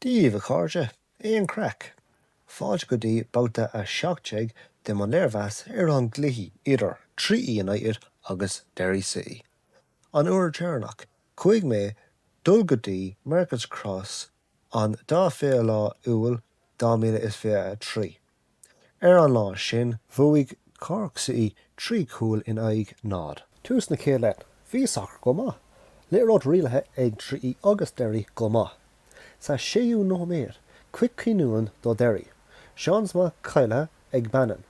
Dia dhaoibh a chairde, aon craic? Fáilte go dtí babhta 17 de mo léirmheas ar an gcluichí idir Treaty United agus Derry City. An uair deireanach chuaigh mé dul go dtí Markets Cross An dá fiche lá Iúil 2023. Ar an lá sin bhuaigh Cork City trí chúl in aghaidh 0. Tús na chéad leath bhí sacar go maith. Liathróid rialaithe ag Treaty agus Derry go maith. Sa séú nóiméad, cic cúinne do Derry, seans maith caillte ag Bannon.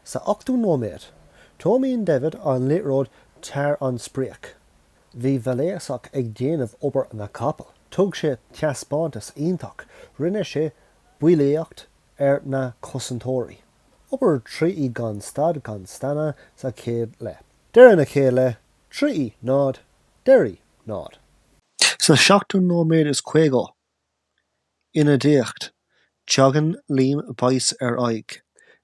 Sa ochtú nóiméad, tiomáin Devitt an liathróid thar an sprioc. Bhí Vrljicak ag déanamh obair na gcapall. Thug sé teaspántas iontach. Rinne sé bulaíocht ar na cosantóirí. Obair Treaty gan stad gan staonadh sa chéad leath. Deireadh na chéad leath, Treaty náid, Derry náid. Sa seachtú nóiméad is caoga, Ionadaíocht, teagann Liam Boyce ar aghaidh.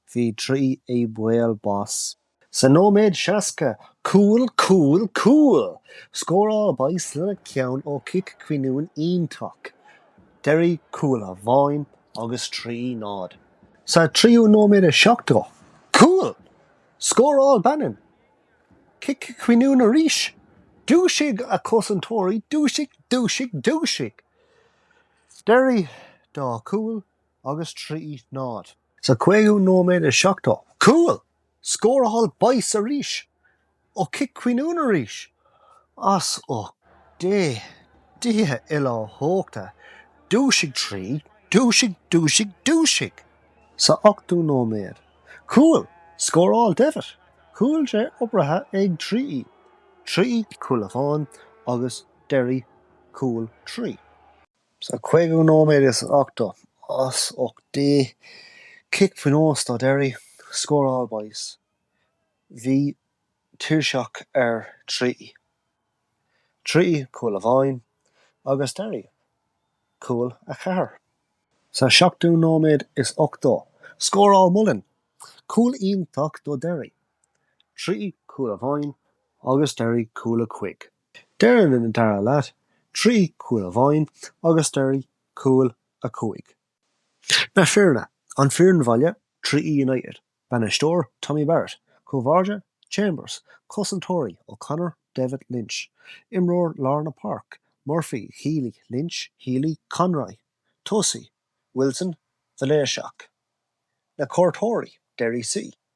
Bhí Treaty i mbaol bás. Sa nóiméad 60, cúl, cúl, cúl! Scóráil Boyce lena cheann ó chic cúinne iontach Derry cúl amháin agus Treaty náid. Sa tríú nóiméad 70, cúl! Scóráil Bannon cic cúinne arís. Dúisigh, a chosantóirí, dúisigh, dúisigh, dúisigh! Derry dá cúl agus Treaty náid. Sa 5ú nóiméad is seachtó. Cúl! Scóráil Boyce arís! Ó cic cúinne arís! As ucht Dé! Dia uilechumhachtach! Dúisigh Treaty! Dúisigh! Dúisigh! Dúisigh! Sa 80ú nóiméad. Cúl! Scóráil Devitt! Cúl dea-oibrithe ag Treaty. Treaty cúl amháin agus Derry cúl trí. Sa 5ú nóiméad is 80 as ucht Dé cic pionóis do Derry, scóráil Boyce. Bhí tuirseach ar Treaty Treaty cúl amháin agus Derry cúl a ceathair. Sa 7ú nóiméad is 80 scóráil Mullen cúl iontach do Derry, Treaty cúl amháin agus Derry cúl a cúig. Deireadh an dara leath, Treaty cúl amháin agus Derry cúl a cúig. Na foirne, An foireann bhaile, Treaty United, Bainisteoir, Tommy Barrett, Cúl báire, Chambers, Cosantóirí, O'Connor, David, Lynch, Imreoir lár na páirce, Murphy, Healy, Lynch, Healy, Conroy, Tosaí, Wilson, Mhiléiseach, Na cuairteoirí, Derry C.